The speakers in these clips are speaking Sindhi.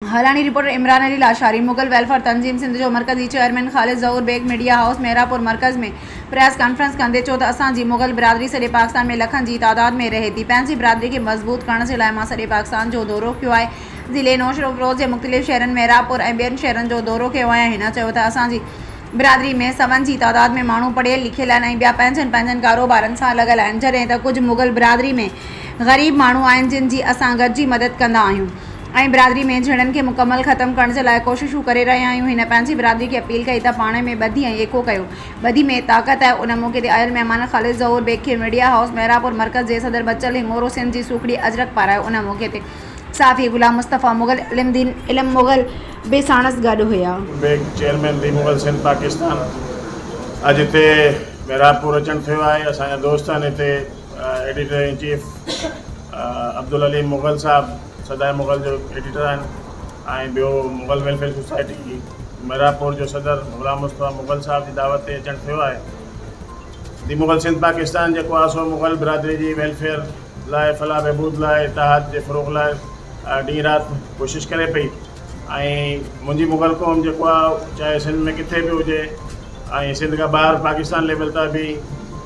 حقاني رپورٽر عمران علي لاشاري مغل ويلفيئر تنظيم سنڌ جو مرڪزي chairman Khalid Zahoor Baig media house Mehrabpur مرڪز ۾ پريس ڪانفرنس ڪندي چيو ته اسان جي مغل برادري سڄي پاڪستان ۾ لکن جي تعداد ۾ رهي ٿي پنهنجي برادري کي مضبوط ڪرڻ جي لاء مان سڄي پاڪستان جو دورو ڪيو آهي ضلعي نوشهروفروز جي مختلف شهرن مهراپور ۽ ٻين شهرن جو دورو ڪيو آهي هن چيو ته اسان جي برادري ۾ سون جي تعداد ۾ ماڻهو پڙهيل لکيل آهن ۽ ٻيا پنهنجن پنهنجن ڪاروبارن سان لڳل آهن جڏهن ته ڪجهه مغل برادري ۾ غريب ماڻهو آهن جن جي اسان گڏجي مدد ڪندا آهيون. ۽ برادري ۾ جھيڙن کي مڪمل ختم ڪرڻ جي لاء ڪوششون ڪري رھيا آھيون ھن پنھنجي برادري کي اپيل ڪئي ته پاڻ ۾ ٻڌي ۽ ايڪو ڪيو ٻڌي ۾ طاقت آھي ان موقعي تي آيل مھمان خالد ظھور بيگ کي ميڊيا ھائوس ميرانپور مرڪز جي صدر بچل ھنڱورو سنڌ جي سوکڙي اجرڪ پارايو ان موقعي تي صحافي غلام مصطفيٰ مغل علم دين علم مغل به ساڻس گڏ ھيا. بيگ چيئرمين دين مغل سنڌ پاڪستان اڄ ھتي ميرانپور اچڻ ٿيو آھي اسان جا دوست آھن ھتي editor in chief Abdul Aleem Mughal صاحب سدائين مغل جو ايڊيٽر آهن ۽ ٻيو مغل ويلفيئر سوسائٽي جي ميرانپور جو صدر غلام مصطفيٰ مغل صاحب جي دعوت تي اچڻ ٿيو آهي. دي مغل سنڌ پاڪستان جيڪو آهي سو مغل برادري جي ويلفيئر لاء فلاح بهبود لاء اتحاد جي فروغ لاء ڏينهن رات ڪوشش ڪري پئي ۽ منهنجي مغل قوم جيڪو آهي چاهي سنڌ ۾ ڪٿي به هجي ۽ سنڌ کان ٻاهر پاڪستان ليول تان به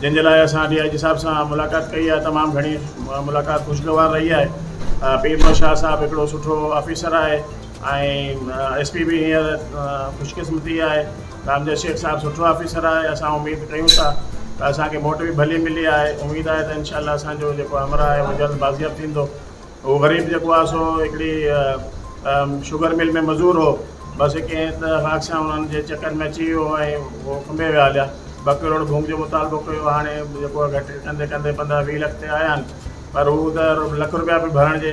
جنهن جي لاء اسان ڊي آء جي صاحب سان ملاقات ڪئي آهي تمام گهڻي ملاقات خوشگوار رهي آهي پير محمد شاهه صاحب هڪڙو سٺو آفيسر آهي ۽ ايس پي به هينئر خوش قسمتي آهي رامديس شيخ صاحب سٺو آفيسر آهي اسان اميد ڪيون ٿا ته اسان کي موٽ به ڀلي ملي آهي اميد آهي ته انشاء الله اسان جو جيڪو همراهه آهي اهو جلد بازياب ٿيندو هو غريب جيڪو آهي سو هڪڙي شگر مل ۾ مزور هو بس هڪ ائين ته اڪثر انهن جي چڪر ۾ اچي ويو ۽ هو کنڀي ويا هليا ٻه ڪروڙ ڀونگ جو مطالبو ڪيو هاڻي جيڪو آهي گهٽ ڪندي ڪندي پندرهن ويهه لک تي آيا آهن پر هو ته لک رپيا به ڀرڻ جي